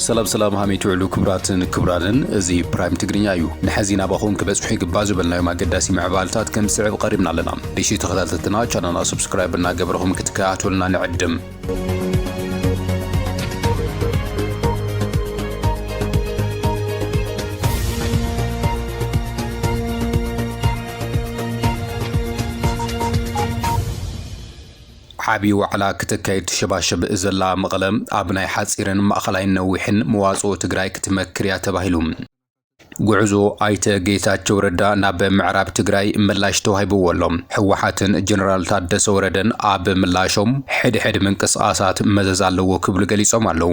ሰላም ሰላም ሃመይ ትውዕሉ ክቡራትን ክቡራንን እዚ ፕራይም ትግርኛ እዩ ንሐዚ ናባኹም ክበጽሑ ይግባእ ዝበልናዮም ኣገዳሲ ምዕባልታት ከም ዝስዕብ ቐሪብና ኣለና ንእሽተይ ተኸታተልትና ቻናልና ሰብስክራይብ እናገበርኹም ክትከታተሉና ንዕድም ዓብዪ ዋዕላ ክትካየድ ትሸባሸብ ዘላ መቐለ ኣብ ናይ ሓፂርን ማእኸላይን ነዊሕን መዋፅኦ ትግራይ ክትመክር እያ ተባሂሉ። ጉዕዞ ኣይተ ጌታቸው ረዳ ናብ ምዕራብ ትግራይ ምላሽ ተዋሂብዎ ኣሎ። ህወሓትን ጀነራል ታደሰ ወረደን ኣብ ምላሾም ሕድሕድ ምንቅስቓሳት መዘዝ ኣለዎ ክብሉ ገሊፆም ኣለው።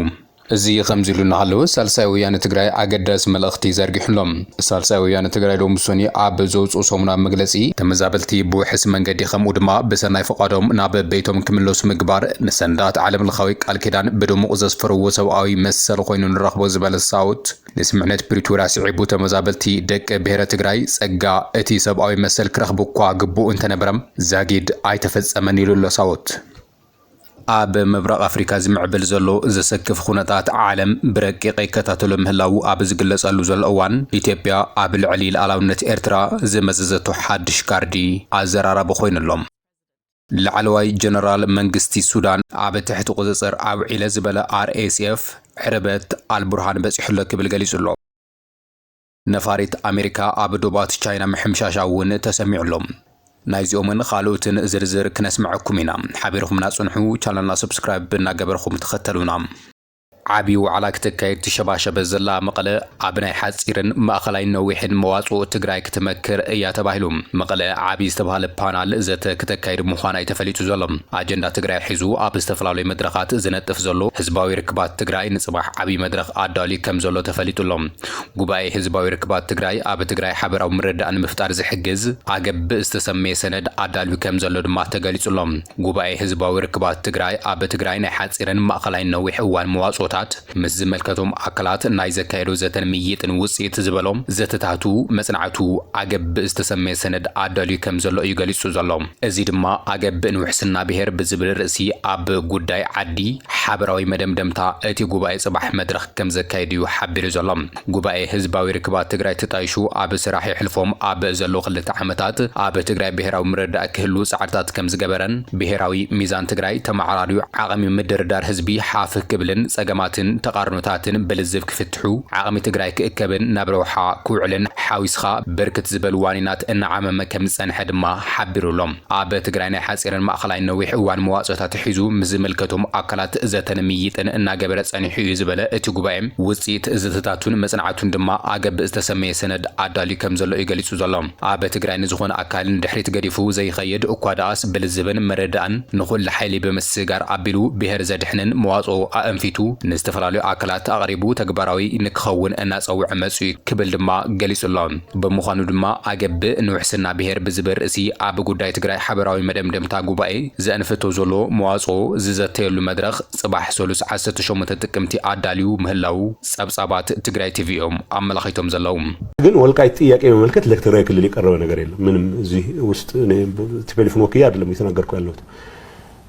እዚ ከምዚ ኢሉ እናሃለወ ሳልሳይ ወያነ ትግራይ ኣገዳሲ መልእኽቲ ዘርጊሑ ኣሎ። ሳልሳይ ወያነ ትግራይ ሎሚ ሰኑይ ኣብ ዘውፅኦ ሰሙናዊ መግለፂ፣ ተመዛበልቲ ብውሕስ መንገዲ ከምኡ ድማ ብሰናይ ፍቓዶም ናብ ቤቶም ክምለሱ ምግባር ንሰነዳት ዓለምለኻዊ ቃል ኪዳን ብድሙቕ ዘስፈርዎ ሰብኣዊ መሰል ኾይኑ ንረኽቦ ዝበለ ሳውት ንስምምዕነት ፕሪቶርያ ስዒቡ ተመዛበልቲ ደቂ ብሄረ ትግራይ ፀጋ እቲ ሰብኣዊ መሰል ክረኽቡ እኳ ግቡእ እንተነበረ ዛጊድ ኣይተፈፀመን ኢሉ ኣሎ ሳወት። ኣብ ምብራቕ ኣፍሪካ ዝምዕብል ዘሎ ዘሰክፍ ኹነታት ዓለም ብረቂቕ ይከታተሎ ምህላዉ ኣብ ዝግለፀሉ ዘሎ እዋን ኢትዮጵያ ኣብ ልዕሊ ልኣላውነት ኤርትራ ዝመዘዘቶ ሓዱሽ ካርዲ ኣዘራራቢ ኾይኑ ኣሎ። ላዕለዋይ ጀነራል መንግስቲ ሱዳን ኣብ ትሕቲ ቁጽጽር ኣውዒለ ዝበለ ኣርኤስኤፍ ዕረበት ኣልቡርሃን በጺሑ'ሎ ክብል ገሊጹ'ሎ። ነፋሪት ኣሜሪካ ኣብ ዶባት ቻይና ምሕምሻሻ እውን ተሰሚዑ'ሎ። ናይዚኦምን ኻልኦትን ዝርዝር ክነስመዐኩም ኢና ሓቢርኹምና ጽንሑ ቻነልና ሰብስክራይብ እናገበርኹም ተኸተሉና። ዓብዪ ዋዕላ ክተካይድ ትሸባሸበ ዘላ መቐለ ኣብ ናይ ሓፂርን ማእኸላይን ነዊሕን መዋፅኦ ትግራይ ክትመክር እያ ተባሂሉ መቐለ ዓብዪ ዝተብሃለ ፓናል ዘተ ክተካይድ ምዃና እዩ ተፈሊጡ ዘሎ። ኣጀንዳ ትግራይ ሒዙ ኣብ ዝተፈላለዩ መድረኻት ዝነጥፍ ዘሎ ህዝባዊ ርክባት ትግራይ ንፅባሕ ዓብዪ መድረኽ ኣዳልዩ ከምዘሎ ተፈሊጡ ኣሎ። ጉባኤ ህዝባዊ ርክባት ትግራይ ኣብ ትግራይ ሓበራዊ ምርድዳእ ንምፍጣር ዝሕግዝ ኣገብ ብዝተሰመየ ሰነድ ኣዳልዩ ከምዘሎ ድማ ተገሊፁ ኣሎ። ጉባኤ ህዝባዊ ርክባት ትግራይ ኣብ ትግራይ ናይ ሓፂርን ማእኸላይን ነዊሕ እዋን መዋፅኦታት ምስ ዝመልከቶም ኣካላት ናይ ዘካየዶ ዘተን ምይይጥን ውፅኢት ዝበሎ ዘተታቱ መፅናዕቱ ኣገብእ ዝተሰመየ ሰነድ ኣዳልዩ ከም ዘሎ እዩ ገሊፁ ዘሎ። እዚ ድማ ኣገብእ ንውሕስና ብሄር ብዝብል ርእሲ ኣብ ጉዳይ ዓዲ ሓበራዊ መደምደምታ እቲ ጉባኤ ፅባሕ መድረኽ ከም ዘካይድ እዩ ሓቢሩ ዘሎ። ጉባኤ ህዝባዊ ርክባት ትግራይ ተጣይሹ ኣብ ስራሕ የሕልፎም ኣብ ዘሎ ክልተ ዓመታት ኣብ ትግራይ ብሄራዊ ምርድዳእ ክህሉ ፃዕርታት ከምዝገበረን ብሄራዊ ሚዛን ትግራይ ተመዓራርዩ ዓቕሚ ምድርዳር ህዝቢ ሓፍ ክብልን ፀገማትን ተቓርኖታትን ብልዝብ ክፍትሑ ዓቕሚ ትግራይ ክእከብን ናብ ረብሓ ክውዕልን ሓዊስኻ ብርክት ዝበሉ ዋኒናት እናዓመመ ከምዝፀንሐ ድማ ሓቢሩ'ሎ። ኣብ ትግራይ ናይ ሓፂርን ማእኸላይን ነዊሕ እዋን መዋፅኦታት ሒዙ ምስ ዝምልከቶም ኣካላት ዘተን ምይይጥን እናገበረ ፀኒሑ እዩ ዝበለ እቲ ጉባኤ፣ ውፅኢት ዘተታቱን መፅናዕቱን ድማ ኣገብ ዝተሰመየ ሰነድ ኣዳልዩ ከም ዘሎ እዩ ገሊፁ ዘሎ። ኣብ ትግራይ ንዝኾነ ኣካል ንድሕሪት ገዲፉ ዘይኸይድ እኳ ደኣስ ብልዝብን መረዳእን ንኹሉ ሓይሊ ብምስግጋር ኣቢሉ ብሄር ዘድሕንን መዋፅኦ ኣእንፊቱ ንዝተፈላለዩ ኣካላት ኣቕሪቡ ተግባራዊ ንክኸውን እናፀውዐ መፂኡ ክብል ድማ ገሊፁ ኣሎ። ብምዃኑ ድማ ኣገብእ ንውሕስና ብሄር ብዝብል ርእሲ ኣብ ጉዳይ ትግራይ ሓበራዊ መደምደምታ ጉባኤ ዘእንፍቶ ዘሎ መዋፅኦ ዝዘተየሉ መድረኽ ፅባሕ ሰሉስ ዓሰርተ ሸሞንተ ጥቅምቲ ኣዳልዩ ምህላዉ ፀብፃባት ትግራይ ቲቪ እዮም ኣመላኺቶም ዘለዉ። ግን ወልቃይት ጥያቄ መመልከት ለትግራይ ክልል የቀረበ ነገር የለም ምንም እዚህ ውስጥ እኔ ቲፔሊፍን ወክዬ አይደለም እየተናገርኩ ያለሁት።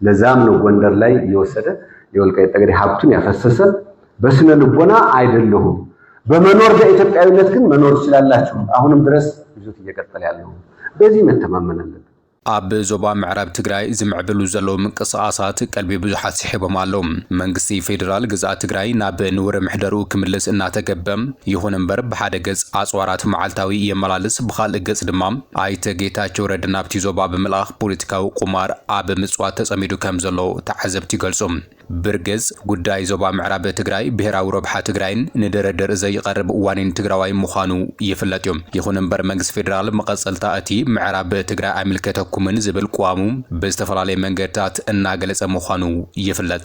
ለዛም ነው ጎንደር ላይ እየወሰደ የወልቃይት ጠገዴ ሀብቱን ያፈሰሰ። በስነ ልቦና አይደለሁም፣ በመኖር በኢትዮጵያዊነት ግን መኖር ትችላላችሁ። አሁንም ድረስ ይዞት እየቀጠለ ያለው በዚህ መተማመን አለብን። ኣብ ዞባ ምዕራብ ትግራይ ዝምዕብሉ ዘለዉ ምንቅስቓሳት ቀልቢ ብዙሓት ስሒቦም ኣለዉ። መንግስቲ ፌዴራል ግዝኣት ትግራይ ናብ ንቡረ ምሕደርኡ ክምልስ እናተገበ፣ ይኹን እምበር ብሓደ ገጽ ኣጽዋራት መዓልታዊ የመላልስ፣ ብኻልእ ገጽ ድማ ኣይተ ጌታቸው ረድ ናብቲ ዞባ ብምልኣኽ ፖለቲካዊ ቁማር ኣብ ምፅዋት ተፀሚዱ ከም ዘሎ ተዓዘብቲ ይገልፁ። ብርግፅ ጉዳይ ዞባ ምዕራብ ትግራይ ብሄራዊ ረብሓ ትግራይን ንድርድር ዘይቐርብ ዋኒን ትግራዋይ ምዃኑ ይፍለጥ ዩ። ይኹን እምበር መንግስቲ ፌዴራል መቐፀልታ እቲ ምዕራብ ትግራይ ኣይምልከተኩምን ዝብል ቅዋሙ ብዝተፈላለየ መንገድታት እናገለፀ ምዃኑ ይፍለጥ።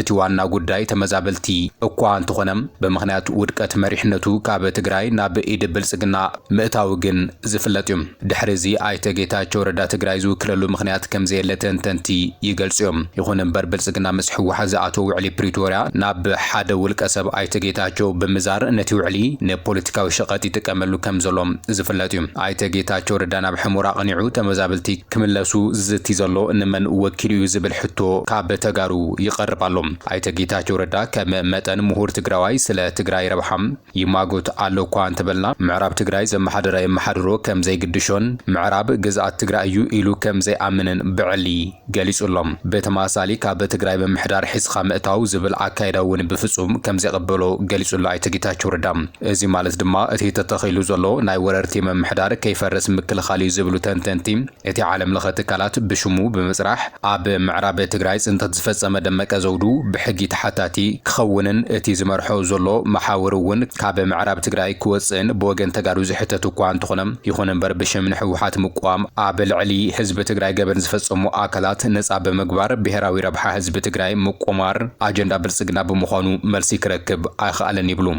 እቲ ዋና ጉዳይ ተመዛበልቲ እኳ እንተኾነ ብምኽንያት ውድቀት መሪሕነቱ ካብ ትግራይ ናብ ኢድ ብልፅግና ምእታዉ ግን ዝፍለጥ እዩ። ድሕሪ እዚ ኣይተ ጌታቸው ረዳ ትግራይ ዝውክለሉ ምኽንያት ከምዘየለ ተንተንቲ ይገልፁ እዮም። ይኹን እምበር ብልፅግና ምስ ህወሓት ዝኣተዎ ውዕሊ ፕሪቶርያ ናብ ሓደ ውልቀ ሰብ ኣይተ ጌታቸው ብምዛር ነቲ ውዕሊ ንፖለቲካዊ ሸቐጥ ይጥቀመሉ ከምዘሎ ዝፍለጥ እዩ። ኣይተ ጌታቸው ረዳ ናብ ሕሞራ ኣቕኒዑ ተመዛበልቲ ክምለሱ ዝዝቲ ዘሎ ንመን ወኪሉ እዩ ዝብል ሕቶ ካብ ተጋሩ ይቐርብ ኣሎ። ኣይተ ጌታቸው ረዳ ከም መጠን ምሁር ትግራዋይ ስለ ትግራይ ረብሓ ይማጎት ኣሎ እኳ እንተበልና ምዕራብ ትግራይ ዘመሓደረ የመሓድሮ ከም ዘይግድሾን ምዕራብ ግዝኣት ትግራይ እዩ ኢሉ ከም ዘይኣምንን ብዕሊ ገሊፁ ኣሎ። ብተመሳሳሊ ካብ ትግራይ ምምሕዳር ሒዝኻ ምእታው ዝብል ኣካይዳ እውን ብፍፁም ከም ዘይቕበሎ ገሊፁ ኣሎ ኣይተ ጌታቸው ረዳ። እዚ ማለት ድማ እቲ ተተኺሉ ዘሎ ናይ ወረርቲ ምምሕዳር ከይፈርስ ምክልኻል እዩ ዝብሉ ተንተንቲ፣ እቲ ዓለምለኸ ትካላት ብሽሙ ብምፅራሕ ኣብ ምዕራብ ትግራይ ፅንተት ዝፈፀመ ደመቀ ዘውዱ ብሕጊ ተሓታቲ ክኸውንን እቲ ዝመርሖ ዘሎ መሓውር እውን ካብ ምዕራብ ትግራይ ክወፅእን ብወገን ተጋሩ ዝሕተት እኳ እንተኾነ ይኹን እምበር ብሽም ንህወሓት ምቅዋም ኣብ ልዕሊ ህዝቢ ትግራይ ገበን ዝፈፀሙ ኣካላት ነፃ ብምግባር ብሄራዊ ረብሓ ህዝቢ ትግራይ ምቁማር ኣጀንዳ ብልፅግና ብምዃኑ መልሲ ክረክብ ኣይኸኣለን ይብሉ።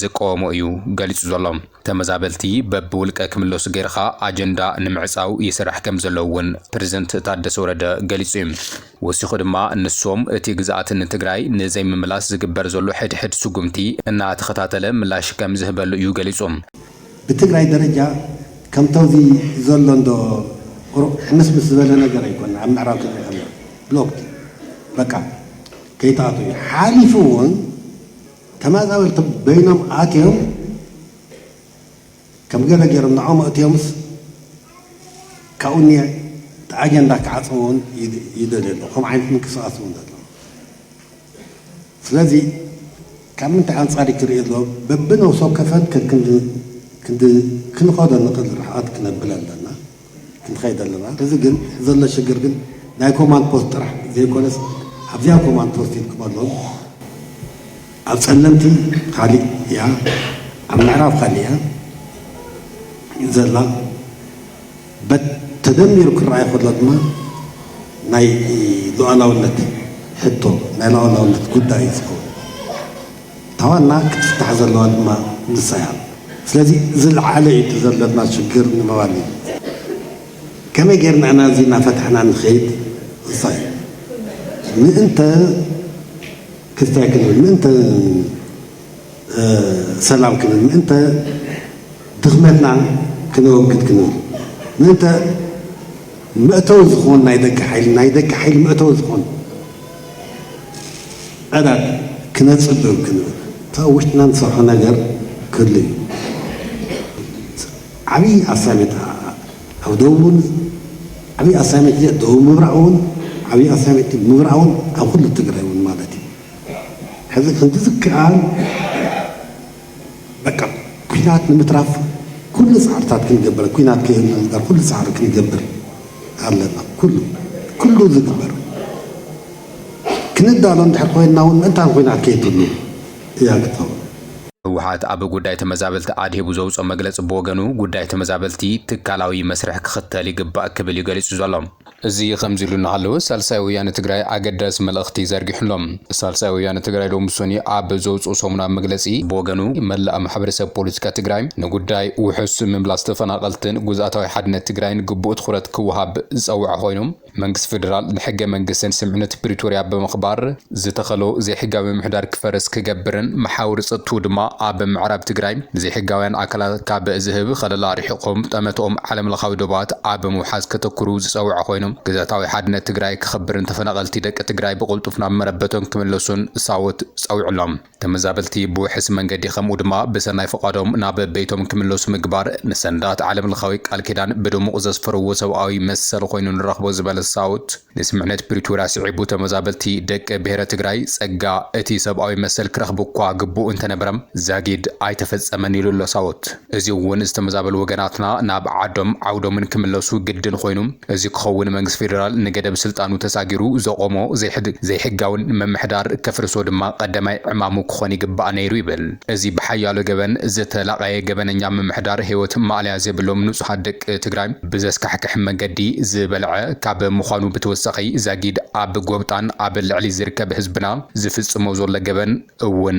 ዝቀወሞ እዩ ገሊጹ ዘሎ። ተመዛበልቲ በብውልቀ ክምለሱ ገይርኻ ኣጀንዳ ንምዕጻው ይስራሕ ከምዘሎ እውን ፕረዚደንት ታደሰ ወረደ ገሊጹ እዩ። ወሲኹ ድማ ንሶም እቲ ግዝኣት ንትግራይ ንዘይምምላስ ዝግበር ዘሎ ሕድሕድ ስጉምቲ እናተኸታተለ ምላሽ ከምዝህበሉ እዩ ገሊጹ። ብትግራይ ደረጃ ከምቲ ኣብዚ ዘሎ እንዶ ቁሩብ ሕምስምስ ዝበለ ነገር ኣይኮነን። ኣብ ምዕራብ ትግራይ ከምዘሎ ብሎክድ እዩ በቃ ከይትኣትዉ እዩ። ሓሊፉ እውን ተመዛበልቲ በይኖም ኣትዮም ከም ገለ ገይሮም ንዖኦም ኣእትዮምስ ካብኡ ኒየ እቲ ኣጀንዳ ክዓጽምዎ ውን ይደልዩ ኣለዉ ከምኡ ዓይነት ምንቅስቃስ ውን ኣሎ ስለዚ ካብ ምንታይ ኣንጻር እዩ ክርእዮ ኣለዎ በብነብሲ ወከፈን ከክንዲ ክንዲ ክንኸዶ ንኽእል ርሕቐት ክነብል ኣለና ክንኸይድ ኣለና እዚ ግን ዘሎ ሽግር ግን ናይ ኮማንድ ፖስት ጥራሕ ዘይኮነስ ኣብዚኣ ኮማንድ ፖስት ኢልኩም ኣሎን ኣብ ጸለምቲ ካሊእ እያ ኣብ ምዕራብ ካሊእ እያ ዘላ በት ተደሚሩ ክረኣይ ከሎ ድማ ናይ ሉዓላውነት ሕቶ ናይ ሉዓላውነት ጉዳይ እዩ ዝኸውን እታ ዋና ክትፍታሕ ዘለዋ ድማ ንሳ እያ። ስለዚ ዝልዓለ እዩ እቲ ዘሎና ሽግር ንምባል እዩ። ከመይ ጌርና ኢና እዚ እናፈታሕና ንኸይድ ንሳ እዩ። ምእንተ ክስታይ ክንብል፣ ምእንተ ሰላም ክንብል፣ ምእንተ ድኽመትና ክነወግድ ክንብል፣ ምእንተ መእተዊ ዝኾን ናይ ደገ ሓይሊ ናይ ደገ ሓይሊ መእተዊ ዝኾን ዕራር ክነጽብብ ክንብል እቲ ኣብ ውሽጥና ንሰርሖ ነገር ክህሉ እዩ። ዓብዪ ኣሳይመንት ኣብ ደቡብ እውን ዓብዪ ኣሳይመንት እዚኣ ደቡብ ምብራቕ እውን ዓብዪ ኣሳይመንት ምብራቕ እውን ኣብ ኩሉ ትግራይ እውን ማለት እዩ። ሕዚ ከምቲ ዝከኣል በቃ ኩናት ንምትራፍ ኩሉ ጻዕርታት ክንገብር ኩናት ከይንዝበር ኩሉ ጻዕሪ ክንገብር ኣለና ኩሉ ኩሉ ዝግበር ክንዳሎ እንድሕር ኮይንና እውን ምእንታን ኩናት ከይትሉ እያ ክትኸውን ህወሓት ኣብ ጉዳይ ተመዛበልቲ ኣድሂቡ ዘውፅኦ መግለፂ ብወገኑ ጉዳይ ተመዛበልቲ ትካላዊ መስርሕ ክኽተል ይግባእ ክብል እዩ ገሊፁ ዘሎ። እዚ ኸምዚሉ እናሃለወ ሳልሳይ ወያነ ትግራይ ኣገዳሲ መልእኽቲ ዘርጊሑ'ሎ። ሳልሳይ ወያነ ትግራይ ሎሚ ሶኒ ኣብ ዘውጽኦ ሰሙናዊ መግለጺ ብወገኑ መላእ ማሕበረሰብ ፖለቲካ ትግራይ ንጉዳይ ውሑስ ምምላስ ተፈናቐልትን ጉዝኣታዊ ሓድነት ትግራይን ግቡእ ትኹረት ክወሃብ ዝጸወዐ ኮይኑ መንግስቲ ፌደራል ንሕገ መንግስትን ስምምዕነት ፕሪቶርያ ብምኽባር ዝተኸሎ ዘይሕጋዊ ምምሕዳር ክፈርስ ክገብርን መሓውር ፀጥትኡ ድማ ኣብ ምዕራብ ትግራይ ንዘይሕጋውያን ኣካላት ካብ ዝህብ ኸለላ ኣርሒቖም ጠመትኦም ዓለምለኻዊ ዶባት ኣብ ምውሓስ ከተኩሩ ዝፀወዐ ኮይኑ ግዝኣታዊ ሓድነት ትግራይ ክኽብርን ተፈናቐልቲ ደቂ ትግራይ ብቕልጡፍ ናብ መረበቶም ክምለሱን ሳወት ፀዊዑ'ሎ። ተመዛበልቲ ብውሕስ መንገዲ ከምኡ ድማ ብሰናይ ፍቓዶም ናብ ቤቶም ክምለሱ ምግባር ንሰነዳት ዓለምለኻዊ ቃል ኪዳን ብድሙቕ ዘስፈርዎ ሰብኣዊ መሰል ኾይኑ ንረኽቦ ዝበለ ሳውት፣ ንስምምዕነት ፕሪቶርያ ስዒቡ ተመዛበልቲ ደቂ ብሄረ ትግራይ ፀጋ እቲ ሰብኣዊ መሰል ክረኽቡ'ኳ ግቡእ እንተነበረ ዛጊድ ኣይተፈፀመን ኢሉ'ሎ ሳውት። እዚ እውን ዝተመዛበሉ ወገናትና ናብ ዓዶም ዓውዶምን ክምለሱ ግድን ኾይኑ። እዚ ክኸውን መንግስቲ ፌደራል ንገደብ ስልጣኑ ተሳጊሩ ዘቖሞ ዘይሕጋውን ምምሕዳር ከፍርሶ ድማ ቐዳማይ ዕማሙ ክኾን ይግባእ ነይሩ ይብል እዚ ብሓያሎ ገበን ዝተላቐየ ገበነኛ ምምሕዳር ህይወት ማእለያ ዘይብሎም ንፁሃት ደቂ ትግራይ ብዘስካሕክሕ መንገዲ ዝበልዐ ካብ ምዃኑ ብተወሳኺ ዛጊድ ኣብ ጎብጣን ኣብ ልዕሊ ዝርከብ ህዝብና ዝፍፅሞ ዘሎ ገበን እውን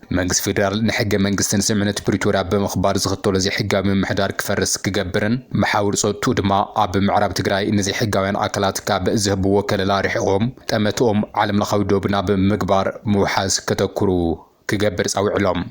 መንግስቲ ፌደራል ንሕገ መንግስትን ስምምዕነት ፕሪቶርያ ብምኽባር ዝኽተሎ ዘይሕጋዊ ምምሕዳር ክፈርስ ክገብርን መሓውር ፀጥትኡ ድማ ኣብ ምዕራብ ትግራይ ንዘይሕጋውያን ኣካላት ካብ ዝህብዎ ከለላ ርሒቖም ጠመትኦም ዓለምለኻዊ ዶብ ናብ ምግባር ምውሓስ ከተኩሩ ክገብር ፃዊዕሎም።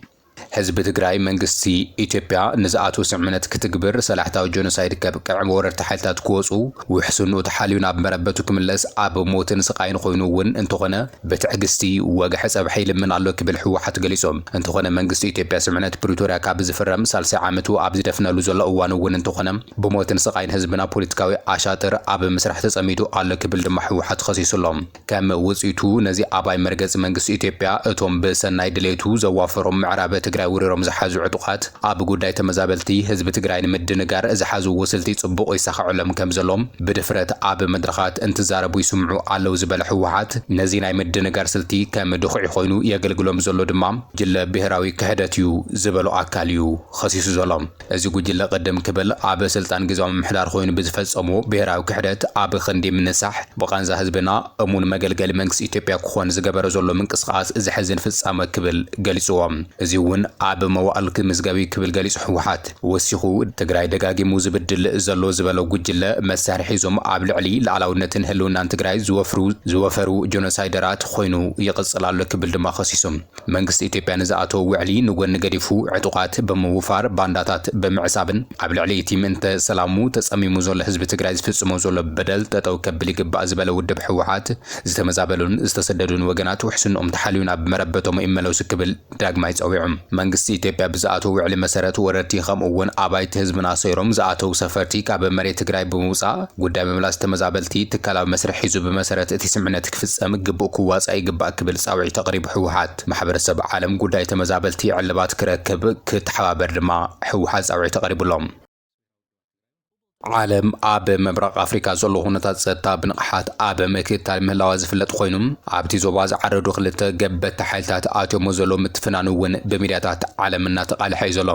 ህዝቢ ትግራይ መንግስቲ ኢትዮጵያ ንዝኣትዎ ስምምዕነት ክትግብር፣ ሰላሕታዊ ጆኖሳይድ ከብቅዕ፣ ወረርቲ ሓይልታት ክወፁ፣ ውሕስንኡ ተሓልዩ ናብ መረበቱ ክምለስ፣ ኣብ ሞትን ስቓይን ኾይኑ እውን እንተኾነ ብትዕግስቲ ወግሐ ጸብሐ ይልምን ኣሎ ክብል ህወሓት ገሊጹ። እንተኾነ መንግስቲ ኢትዮጵያ ስምዕነት ፕሪቶርያ ካብ ዝፍረም ሳልሳይ ዓመቱ ኣብ ዝደፍነሉ ዘሎ እዋን እውን እንተኾነ ብሞትን ስቓይን ህዝብና ፖለቲካዊ ኣሻጥር ኣብ ምስራሕ ተጸሚዱ ኣሎ ክብል ድማ ህወሓት ኸሲሱ ኣሎ። ከም ውጽኢቱ ነዚ ኣባይ መርገጺ መንግስቲ ኢትዮጵያ እቶም ብሰናይ ድሌቱ ዘዋፈሮም ምዕራብ ትግራይ ወሪሮም ዝሓዙ ዕጡቓት ኣብ ጉዳይ ተመዛበልቲ ህዝቢ ትግራይ ንምድንጋር ዝሓዝዎ ስልቲ ጽቡቕ ይሳኸዐሎም ከም ዘሎ ብድፍረት ኣብ መድረኻት እንትዛረቡ ይስምዑ ኣለው ዝበለ ህወሓት፣ ነዚ ናይ ምድንጋር ስልቲ ከም ድኹዒ ኮይኑ የገልግሎም ዘሎ ድማ ጉጅለ ብሄራዊ ክሕደት እዩ ዝበሎ ኣካል እዩ ኸሲሱ ዘሎ። እዚ ጉጅለ ቅድም ክብል ኣብ ስልጣን ግዝያዊ ምምሕዳር ኾይኑ ብዝፈፀሞ ብሄራዊ ክሕደት ኣብ ኽንዲ ምንሳሕ ብቓንዛ ህዝብና እሙን መገልገሊ መንግስቲ ኢትዮጵያ ክኾን ዝገበረ ዘሎ ምንቅስቓስ ዘሕዝን ፍፃመ ክብል ገሊፅዎ። እዙይ እውን ኣብ መዋእል ክምዝገብ እዩ ክብል ገሊፁ ህወሓት። ወሲኹ፣ ትግራይ ደጋጊሙ ዝብድል ዘሎ ዝበሎ ጉጅለ መሳርሒ እዞም ኣብ ልዕሊ ልኣላውነትን ህልውናን ትግራይ ዝወፍሩ ዝወፈሩ ጆኖሳይደራት ኾይኑ ይቕፅል ኣሎ ክብል ድማ ኸሲሱ። መንግስቲ ኢትዮጵያ ንዝኣተዎ ውዕሊ ንጎኒ ገዲፉ ዕጡቓት ብምውፋር ባንዳታት ብምዕሳብን ኣብ ልዕሊ እቲ ምእንተ ሰላሙ ተፀሚሙ ዘሎ ህዝቢ ትግራይ ዝፍፅሞ ዘሎ በደል ጠጠው ከብል ይግባእ ዝበለ ውድብ ህወሓት ዝተመዛበሉን ዝተሰደዱን ወገናት ውሕስንኦም ተሓልዩ ናብ መረበቶም ይመለሱ ክብል ዳግማይ ጸዊዖም። መንግስቲ ኢትዮጵያ ብዝኣተዎ ውዕሊ መሰረት ወረርቲ ከምኡ እውን ኣባይቲ ህዝብና ሰይሮም ዝኣተው ሰፈርቲ ካብ መሬት ትግራይ ብምውጻእ ጉዳይ ምምላስ ተመዛበልቲ ትካላዊ መስርሕ ሒዙ ብመሰረት እቲ ስምምዕነት ክፍጸም ግቡእ ክዋጻእ ይግባእ ክብል ጻውዒት ኣቕሪቡ ህወሓት ማሕበረሰብ ዓለም ጉዳይ ተመዛበልቲ ዕልባት ክረክብ ክተሓባበር ድማ ህወሓት ጻውዒት ኣቕሪቡሎም። ዓለም ኣብ ምብራቕ ኣፍሪካ ዘሎ ኩነታት ፀጥታ ብንቕሓት ኣብ ምክትታል ምህላዋ ዝፍለጥ ኮይኑ ኣብቲ ዞባ ዝዓረዱ ክልተ ገበቲ ሓይልታት ኣትዮሞ ዘሎ ምትፍናን እውን ብሚድያታት ዓለም እናተቓልሐ እዩ ዘሎ።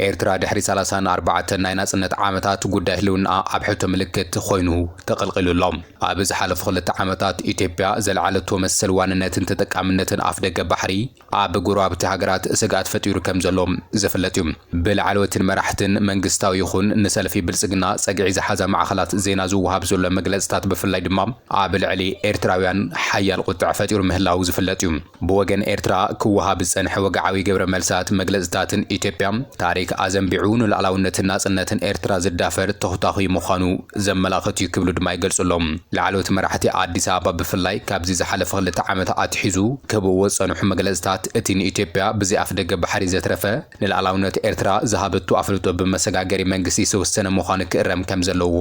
ኤርትራ ድሕሪ ሰላሳን ኣርባዕተን ናይ ናፅነት ዓመታት ጉዳይ ህልውናኣ ኣብ ሕቶ ምልክት ኮይኑ ተቐልቒሉ ኣሎ። ኣብ ዝሓለፉ ክልተ ዓመታት ኢትዮጵያ ዘልዓለቶ መሰል ዋንነትን ተጠቃምነትን ኣፍደገ ባሕሪ፣ ኣብ ጎረባብቲ ሃገራት ስግኣት ፈጢሩ ከም ዘሎ ዝፍለጥ እዩ። ብላዕለዎትን መራሕትን መንግስታዊ ይኹን ንሰልፊ ብልጽግና ጸግዒ ዝሓዛ ማዕኸናት ዜና ዝወሃብ ዘሎ መግለጽታት ብፍላይ ድማ ኣብ ልዕሊ ኤርትራውያን ሓያል ቁጠዐ ፈጢሩ ምህላዉ ዝፍለጥ እዩ። ብወገን ኤርትራ ክወሃብ ዝጸንሐ ወግዓዊ ግብረ መልሳት መግለጽታትን ኢትዮጵያ ታሪክ ኣዘንቢዑ ንሉኣላውነትን ናጽነትን ኤርትራ ዝዳፈር ተኹታኹይ ምዃኑ ዘመላኽት እዩ ክብሉ ድማ ይገልጹ ኣለው። ላዕለዎት መራሕቲ ኣዲስ ኣበባ ብፍላይ ካብዚ ዝሓለፈ ክልተ ዓመት ኣትሒዙ ክህብዎ ዝጸንሑ መግለጽታት እቲ ንኢትዮጵያ ብዘይ ኣፍደገ ባሕሪ ዘትረፈ ንልኣላውነት ኤርትራ ዝሃበቶ ኣፍልጦ ብመሰጋገሪ መንግስቲ ዝተወሰነ ምዃኑ ክእረም ከምዘለዎ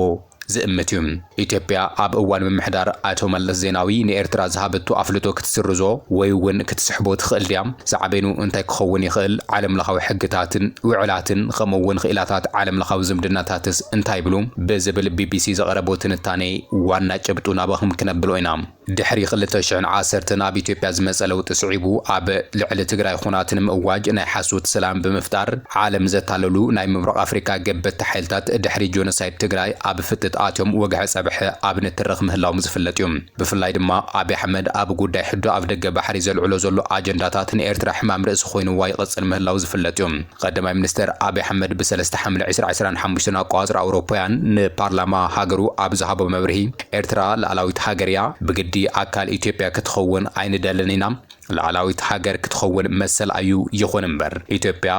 ዝእምት እዩ። ኢትዮጵያ ኣብ እዋን ምምሕዳር ኣቶ መለስ ዜናዊ ንኤርትራ ዝሃበቶ ኣፍልጦ ክትስርዞ ወይ'ውን ክትስሕቦ ትኽእል ድያ? ሳዕቤኑ እንታይ ክኸውን ይኽእል? ዓለምለኻዊ ሕግታትን ውዕላትን ኸምኡ'ውን ኽኢላታት ዓለምለኻዊ ዝምድናታትስ እንታይ ይብሉ? ብዝብል ቢቢሲ ዘቕረቦ ትንታኔ ዋና ጭብጡ ናባኹም ክነብሎ ኢና። ድሕሪ ክልተ ሽሕን ዓሰርተን ኣብ ኢትዮጵያ ዝመጸ ለውጢ ስዒቡ ኣብ ልዕሊ ትግራይ ኹናት ንምእዋጅ ናይ ሓሶት ሰላም ብምፍጣር ዓለም ዘታለሉ ናይ ምብራቕ ኣፍሪቃ ገበትቲ ሓይልታት ድሕሪ ጆኖሳይድ ትግራይ ኣብ ፍጥጥ ኣትዮም ወግሐ ጸብሐ ኣብ ንትርኽ ምህላዎም ዝፍለጥ እዩ። ብፍላይ ድማ ኣብይ ኣሕመድ ኣብ ጉዳይ ሕቶ ኣፍደገ ባሕሪ ዘልዕሎ ዘሎ ኣጀንዳታት ንኤርትራ ሕማም ርእሲ ኮይንዋ ይቕጽል ምህላዉ ዝፍለጥ እዩ። ቐዳማይ ሚኒስተር ኣብይ ኣሕመድ ብ ሰለስተ ሓምለ ዕስራ ዕስራን ሓሙሽተን ኣቆጻጽራ ኣውሮፓውያን ንፓርላማ ሃገሩ ኣብ ዝሃቦ መብርሂ ኤርትራ ልኣላዊት ሃገር እያ፣ ብግዲ ኣካል ኢትዮጵያ ክትኸውን ኣይንደልን ኢና፣ ልኣላዊት ሃገር ክትኸውን መሰል ኣዩ፣ ይኹን እምበር ኢትዮጵያ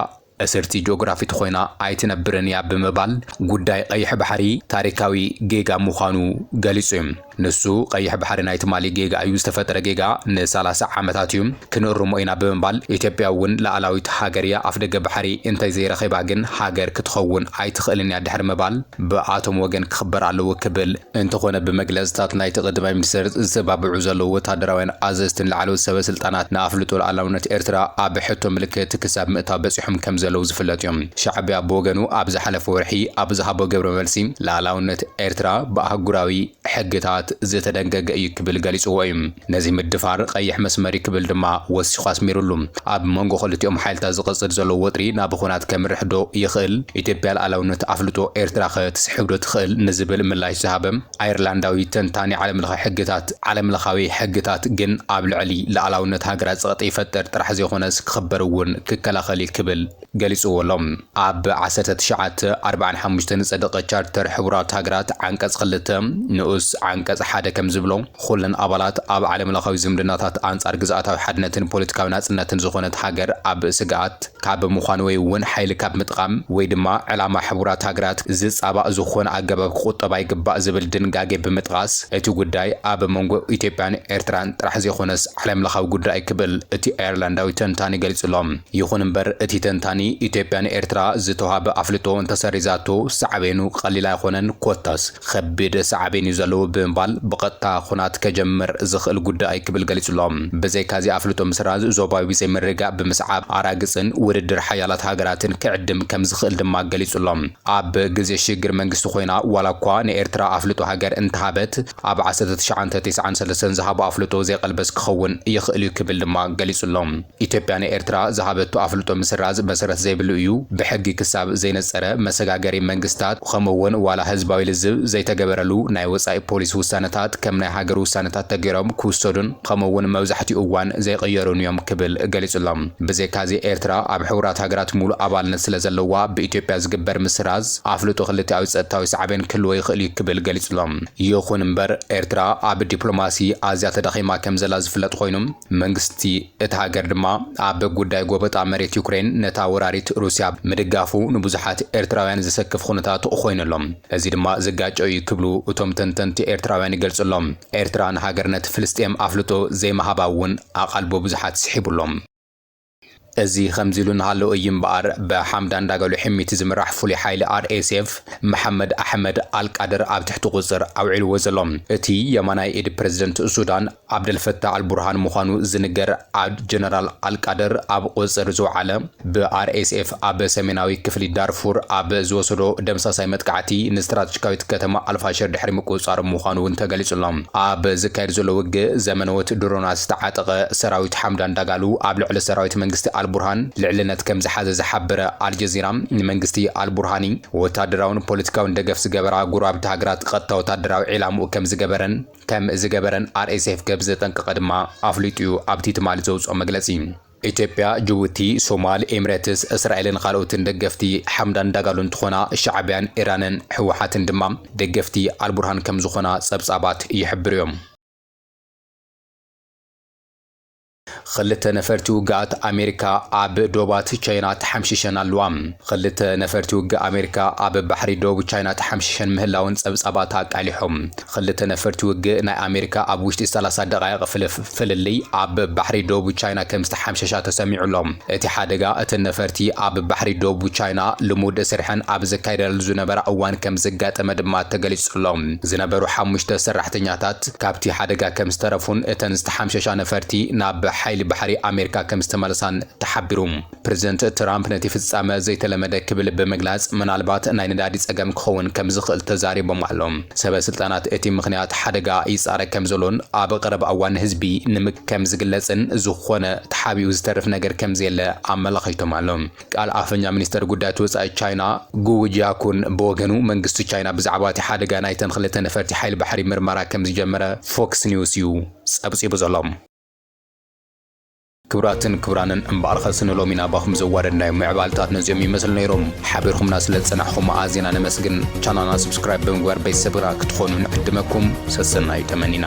እስርቲ ጆግራፊት ኾይና ኣይትነብርን እያ ብምባል ጉዳይ ቐይሕ ባሕሪ ታሪካዊ ጌጋ ምዃኑ ገሊጹ እዩ። ንሱ ቐይሕ ባሕሪ ናይ ትማሊ ጌጋ እዩ፣ ዝተፈጥረ ጌጋ ንሳላሳ ዓመታት እዩ፣ ክንእርሞ ኢና ብምባል ኢትዮጵያ እውን ልኣላዊት ሃገር እያ፣ ኣፍደገ ባሕሪ እንተዘይረኺባ ግን ሃገር ክትኸውን ኣይትኽእልን እያ ድሕሪ ምባል ብኣቶም ወገን ክኽበር ኣለዎ ክብል እንተኾነ ብመግለፅታት ናይቲ ቀዳማይ ሚኒስትር ዝተባብዑ ዘለዉ ወታደራውያን ኣዘዝትን ላዕለዎት ሰበስልጣናት ንኣፍልጦ ሉኣላውነት ኤርትራ ኣብ ሕቶ ምልክት ክሳብ ምእታው በፂሖም ከምዘለዉ ዝፍለጥ እዩ። ሻዕቢያ ብወገኑ ኣብ ዝሓለፈ ወርሒ ኣብ ዝሃቦ ግብረ መልሲ ሉኣላውነት ኤርትራ ብኣህጉራዊ ሕግታት ዝተደንገገ እዩ ክብል ገሊፅዎ እዩ። ነዚ ምድፋር ቀይሕ መስመር'ዩ ክብል ድማ ወሲኹ ኣስሚርሉ። ኣብ መንጎ ክልቲኦም ሓይልታት ዝቕጽል ዘሎ ወጥሪ ናብ ኹናት ከምርሕ'ዶ ይኽእል? ኢትዮጵያ ልኣላውነት ኣፍልጦ ኤርትራ'ኸ ትስሕብ'ዶ ትኽእል? ንዝብል ምላሽ ዝሃበ ኣየርላንዳዊ ተንታኒ ዓለምለኸ ሕግታት፣ ዓለምለኻዊ ሕግታት ግን ኣብ ልዕሊ ልኣላውነት ሃገራት ጸቕጢ ይፈጥር ጥራሕ ዘይኾነስ ክኽበር'ውን ክከላኸል'ዩ ክብል ገሊጽዎ ኣሎ። ኣብ ዓሰርተ ትሽዓተ ኣርብዓን ሓሙሽተን ዝጸደቐ ቻርተር ሕቡራት ሃገራት ዓንቀጽ ክልተ ንኡስ ዓንቀጽ ሓደ ከም ዝብሎ፣ ኹለን ኣባላት ኣብ ዓለምለኻዊ ዝምድናታት ኣንጻር ግዝኣታዊ ሓድነትን ፖለቲካዊ ናጽነትን ዝኾነት ሃገር ኣብ ስግኣት ካብ ምዃን ወይ እውን ሓይሊ ካብ ምጥቓም ወይ ድማ ዕላማ ሕቡራት ሃገራት ዝጻባእ ዝኾነ ኣገባብ ክቑጠባ ይግባእ ዝብል ድንጋጌ ብምጥቓስ እቲ ጉዳይ ኣብ መንጎ ኢትዮጵያን ኤርትራን ጥራሕ ዘይኮነስ ዓለምለኻዊ ጉዳይ ክብል እቲ ኣየርላንዳዊ ተንታኒ ገሊጹ ኣሎ። ይኹን እምበር እቲ ተንታኒ፣ ኢትዮጵያ ንኤርትራ ዝተውሃበ ኣፍልጦ እንተሰሪዛቶ ሳዕቤኑ ቀሊል ኣይኾነን ኮታስ ኸቢድ ሳዕቤን እዩ ዘለዎ ብምባል ብቐጥታ ኹናት ከጀምር ዝኽእል ጉዳይ እዩ ክብል ገሊፁ'ሎ። ብዘይካ'ዚ ኣፍልጦ ምስራዝ ዞባዊ ዘይምርግጋእ ብምስዓብ ኣራግፅን ውድድር ሓያላት ሃገራትን ክዕድም ከምዝኽእል ድማ ገሊፁ'ሎ። ኣብ ግዜ ሽግግር መንግስቲ ኾይና ዋላ'ኳ ንኤርትራ ኣፍልጦ ሃገር እንተሃበት፣ ኣብ ዓሰርተ ትሽዓንተ ቴስዓን ሰለስተን ዝሃቦ ኣፍልጦ ዘይቐልበስ ክኸውን ይኽእል'ዩ ክብል ድማ ገሊጹ'ሎ። ኢትዮጵያ ንኤርትራ ዝሃበቶ ኣፍልጦ ምስራዝ መሰረት ዘይብሉ እዩ፣ ብሕጊ ክሳብ ዘይነጸረ መሰጋገሪ መንግስታት ከምኡ'ውን ዋላ ህዝባዊ ልዝብ ዘይተገበረሉ ናይ ወጻኢ ፖሊሲ ውሳነታት ከም ናይ ሃገር ውሳነታት ተገይሮም ክውሰዱን ከምኡ'ውን መብዛሕትኡ እዋን ዘይቕየሩን'ዮም ክብል ገሊጹ'ሎ። ብዘይካ'ዚ ኤርትራ ኣብ ሕቡራት ሃገራት ምሉእ ኣባልነት ስለዘለዋ ብኢትዮጵያ ዝግበር ምስራዝ ኣፍልጦ ክልቲኣዊ ጸጥታዊ ሳዕቤን ክህልዎ ይኽእል'ዩ ክብል ገሊጹ'ሎ። ይኹን እምበር ኤርትራ ኣብ ዲፕሎማሲ ኣዝያ ተዳኺማ ከምዘላ ዝፍለጥ ኮይኑ፣ መንግስቲ እታ ሃገር ድማ ኣብ ጉዳይ ጎበጣ መሬት ዩክሬን ነታ ወራሪት ሩስያ ምድጋፉ ንብዙሓት ኤርትራውያን ዘሰክፍ ኹነታት ኾይኑ ኣሎ። እዚ ድማ ዝጋጮ እዩ ክብሉ እቶም ተንተንቲ ኤርትራውያን ይገልጹ ኣሎ። ኤርትራ ንሃገርነት ፍልስጤም ኣፍልጦ ዘይምሃባ እውን ኣቓልቦ ብዙሓት ስሒቡ ኣሎ። እዚ ከምዚ ኢሉ እናሃለወ እዩ እምበኣር ብሓምዳን ዳጋሎ ሒሚቲ ዝምራሕ ፍሉይ ሓይሊ RSF መሓመድ ኣሕመድ ኣልቃድር ኣብ ትሕቲ ቁፅፅር ኣውዒልዎ ዘሎ። እቲ የማናይ ኢድ ፕረዚደንት ሱዳን ዓብደልፈታህ ኣልቡርሃን ምዃኑ ዝንገር ጀነራል ኣልቃድር ኣብ ቁፅፅር ዝወዓለ ብ RSF ኣብ ሰሜናዊ ክፍሊ ዳርፉር ኣብ ዝወሰዶ ደምሳሳይ መጥቃዕቲ ንስትራተጂካዊት ከተማ ኣልፋሽር ድሕሪ ምቁጽጻሮም ምዃኑ'ውን ተገሊጹ'ሎ። ኣብ ዝካየድ ዘሎ ውግእ ዘመነዎት ድሮናት ዝተዓጠቐ ሰራዊት ሓምዳን ዳጋሉ ኣብ ልዕሊ ሰራዊት መንግስቲ ኣልቡርሃን ልዕልነት ከምዝሓዘ ዝሓበረ ኣልጀዚራ ንመንግስቲ ኣልቡርሃኒ ወታደራውን ፖለቲካውን ደገፍ ዝገበራ ጎረባብቲ ሃገራት ቐጥታ ወታደራዊ ዒላምኡ ከምዝገበረን ከምዝገበረን ኣርኤስኤፍ ከምዘጠንቀቐ ድማ ኣፍሊጡ'ዩ ኣብቲ ትማሊ ዘውጽኦ መግለጺ። ኢትዮጵያ፣ ጅቡቲ፣ ሶማል፣ ኤምረትስ፣ እስራኤልን ኻልኦትን ደገፍቲ ሓምዳን ዳጋሎ እንትኾና ሻዕብያን ኢራንን ህወሓትን ድማ ደገፍቲ ኣልቡርሃን ከምዝኾና ፀብፃባት ይሕብሩ ዮም። ኽልተ ነፈርቲ ውግኣት ኣሜሪካ ኣብ ዶባት ቻይና ተሓምሺሸን ኣለዋ። ኽልተ ነፈርቲ ውግእ ኣሜሪካ ኣብ ባሕሪ ዶብ ቻይና ተሓምሺሸን ምህላወን ፀብፃባት ኣቃሊሖም። ኽልተ ነፈርቲ ውግእ ናይ ኣሜሪካ ኣብ ውሽጢ ሰላሳ ደቓይቕ ፍልልይ ኣብ ባሕሪ ዶቡ ቻይና ከምዝተሓምሸሻ ተሰሚዑ ኣሎ። እቲ ሓደጋ እተን ነፈርቲ ኣብ ባሕሪ ዶቡ ቻይና ልሙድ ስርሐን ኣብ ዘካይዳሉ ዝነበራ እዋን ከምዘጋጠመ ድማ ተገሊፁ ኣሎ። ዝነበሩ ሓሙሽተ ሰራሕተኛታት ካብቲ ሓደጋ ከምዝተረፉን እተን ዝተሓምሸሻ ነፈርቲ ናብ ሓይሊ ባሕሪ ኣሜሪካ ከምዝተመለሳን ተሓቢሩ። ፕረዚደንት ትራምፕ ነቲ ፍጻመ ዘይተለመደ ክብል ብምግላጽ ምናልባት ናይ ነዳዲ ጸገም ክኸውን ከም ዝኽእል ተዛሪቦም ኣሎም። ሰበ ስልጣናት እቲ ምኽንያት ሓደጋ ይጻረ ከም ዘሎን ኣብ ቐረባ እዋን ንህዝቢ ንምግ ከም ዝግለጽን ዝኾነ ተሓቢኡ ዝተርፍ ነገር ከም ዘየለ ኣመላኺቶም ኣሎም። ቃል ኣፈኛ ሚኒስተር ጉዳያት ወጻኢ ቻይና ጉው ጂያኩን ብወገኑ መንግስቲ ቻይና ብዛዕባ እቲ ሓደጋ ናይተን ክልተ ነፈርቲ ሓይሊ ባሕሪ ምርመራ ከም ዝጀመረ ፎክስ ኒውስ እዩ ጸብጺቡ ዘሎ። ክብራትን ክብራንን እምበኣር ኸስ ንሎሚ ናባኹም ዘዋደድ ናይ ምዕባልታት ነዚኦም ይመስሉ ነይሮም ሓቢርኹምና ስለ ዝጸናሕኹም ኣዚና ነመስግን ቻናልና ስብስክራይብ ብምግባር ቤተሰብና ክትኾኑ ንዕድመኩም ሰሰናዩ ተመኒና።